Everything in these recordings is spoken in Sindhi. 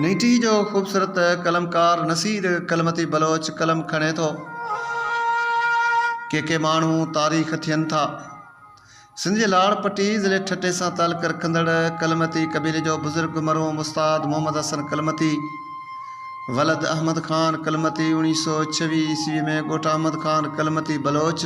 نيٺي جو خوبصورت قلمڪار نصير ڪلمتي بلوچ قلم کڻي ٿو. ڪي ڪي ماڻهو تاريخ ٿين ٿا. سنڌ جي لاڙ پٽي ضلعي ٺٽي سان تعلق رکندڙ ڪلمتي قبيلي جو بزرگ مرحوم استاد محمد حسن ڪلمتي ولد احمد خان ڪلمتي اوڻيهه سؤ ڇويهه عيسوي ۾ ڳوٺ احمد خان ڪلمتي بلوچ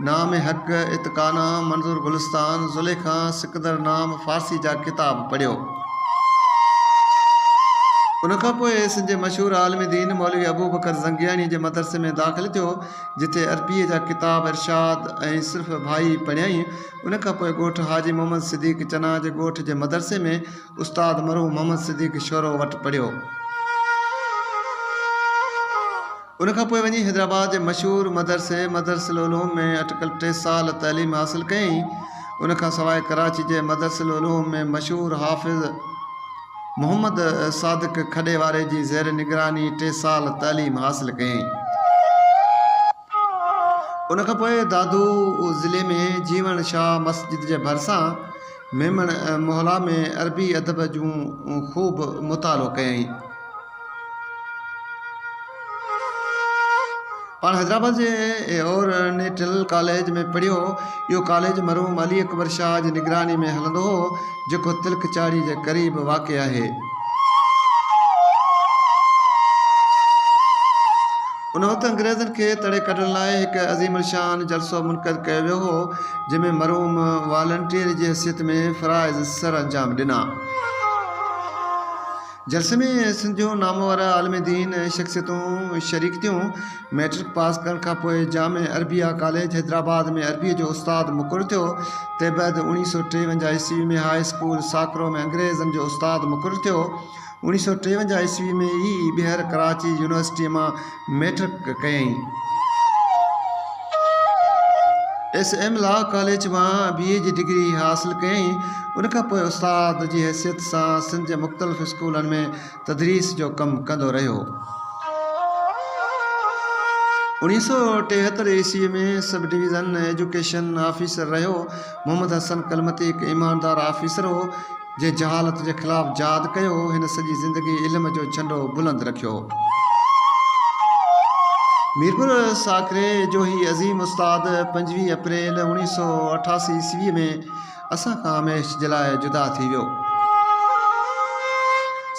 نام حق اتقانا منظور گلستان زليخا سڪندر نام فارسي جا ڪتاب پڙهيو ان کان پوء سنڌ جي مشهور عالم دين مولوي ابوبڪر زنگياڻيء جي مدرسي ۾ داخل ٿيو جتي عربيء جا ڪتاب ارشاد ۽ صرف ڀائي پڙهيائين ان کان پوء ڳوٺ حاجي محمد صديق چنا جي ڳوٺ جي مدرسي ۾ استاد مرحوم محمد صديق شورو وٽ پڙهيو. ان کان پوء وڃي حيدرآباد جي مشهور مدرسي مدرسة العلوم ۾ اٽڪل ٽي سال تعليم حاصل ڪيائين. ان کان سواء ڪراچي جي مدرسة العلوم ۾ مشهور حافظ محمد صادق کڏي واري جي زير نگراني ٽي سال تعليم حاصل ڪيائين. ان کان پوء دادو ضلعي ۾ جيوڻ شاهه مسجد جي ڀرسان ميمڻ محلا ۾ عربي ادب جون خوب مطالعو ڪيائين. پاڻ حيدرآباد جي اورينٽل ڪاليج ۾ پڙهيو هو. اهو ڪاليج مرحوم علي اڪبر شاهه جي نگراني ۾ هلندو هو، جيڪو تلڪ چاڙهي جي قريب واقع آهي. ان وقت انگريزن کي تڙي ڪڍڻ لاء هڪ عظيم الشان جلسو منعقد ڪيو ويو هو، جنهن ۾ مرحوم والنٽيئر جي حيثيت ۾ فرائض سرانجام ڏنا. جلسي ۾ سنڌ جون نامور عالم دين ۽ شخصيتون شريڪ ٿيون. مئٽرڪ پاس ڪرڻ کانپوء جامع عربيه ڪاليج حيدرآباد ۾ عربيء جو استاد مقرر ٿيو. تنهنبعد اوڻيهه سؤ ٽيونجاهه عيسوي ۾ هاء اسڪول ساڪرو ۾ انگريزن جو استاد مقرر ٿيو. اوڻيهه سؤ ٽيونجاهه عيسوي ۾ ئي ٻيهر ڪراچي يونيورسٽيء مان ميٽرڪ ڪيائين. ايس ايم لا ڪاليج مان بي اي جي ڊگري حاصل ڪيائين. ان کان پوء استاد جي حيثيت سان سنڌ جي مختلف اسڪولن ۾ تدريس جو ڪم ڪندو رهيو. اوڻيهه سؤ ٽيهتر عيسوي ۾ سب ڊويزن ايجوڪيشن آفيسر رهيو. محمد حسن ڪلمتي هڪ ايماندار آفيسر هو. جنهن جهالت جي خلاف جهاد ڪيو، هن سڄي زندگي علم جو جهنڊو بلند رکيو. ميرپور ساڪري جو هي عظيم استاد پنجويهه اپريل اوڻيهه سؤ اٺاسي عيسويء ۾ اسان کان هميشھ جي لاء جدا ٿي ويو.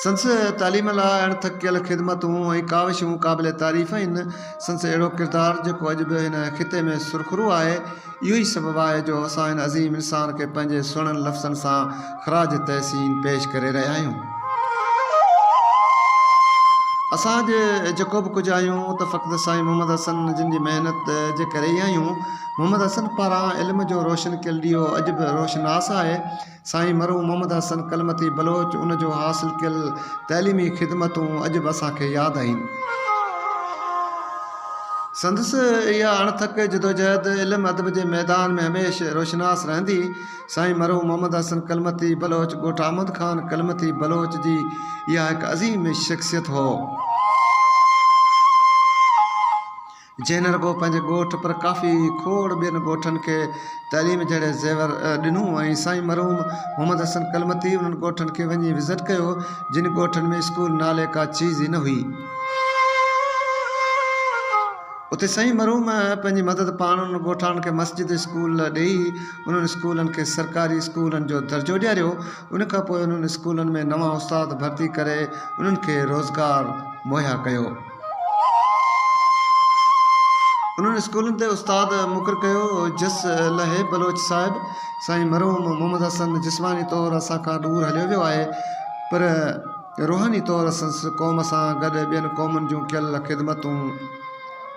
سندس تعليم لاء اڻ ٿڪيل خدمتون ۽ ڪاوشون قابل تعريف آهن. سندس اهڙو ڪردار جيڪو اڄ به هن خطي ۾ سرخرو آهي، اهو ئي سبب آهي جو اسان هن عظيم انسان کي پنهنجي سهڻن لفظن سان خراج تحسين پيش ڪري رهيا آهيون. اسان جي جيڪو به ڪجهه آهيون ته فقط سائين محمد حسن جن جي محنت جي ڪري ئي آهيون. محمد حسن پاران علم جو روشن ڪيل ڏيئو اڄ به روشناس آهي. سائين مرحوم محمد حسن ڪلمتي بلوچ ان جو حاصل ڪيل تعليمي خدمتون اڄ به اسان کي ياد آهن. سندس اها اڻٿڪ جدوجهد علم ادب جي ميدان ۾ هميشھ روشناس رهندي. سائين مرحوم محمد حسن ڪلمتي بلوچ ڳوٺ احمد خان ڪلمتي بلوچ جي اها هڪ عظيم شخصيت هو. جنهن نه رڳو پنهنجي ڳوٺ پر ڪافي کوڙ ٻين ڳوٺن کي تعليم جهڙي زيور ڏنو ۽ سائين مرحوم محمد حسن ڪلمتي انهن ڳوٺن کي وڃي وزٽ ڪيو جن ڳوٺن ۾ اسڪول نالي ڪا چيز ئي نه هئي. اتي سائين مرحوم پنهنجي مدد پاڻ انهن ڳوٺاڻن کي مسجد اسڪول ڏئي انهن اسڪولن کي سرڪاري اسڪولن جو درجو ڏياريو ان کانپوء انهن اسڪولن ۾ نوان استاد ڀرتي ڪري انهن کي روزگار مهيا ڪيو. انهن اسڪولن تي استاد مقرر ڪيو جس لهي بلوچ صاحب سائين مرحوم محمد حسن جسماني طور اسان کان ڏور هليو ويو آهي پر روحاني طور سنس قوم سان گڏ ٻين قومن جون ڪيل خدمتون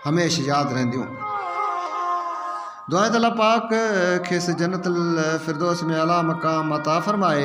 هميشھ ياد رهنديون دعا ته الله پاڪ کيس جنت الفردوس ۾ اعليٰ مقام عطا فرمائي.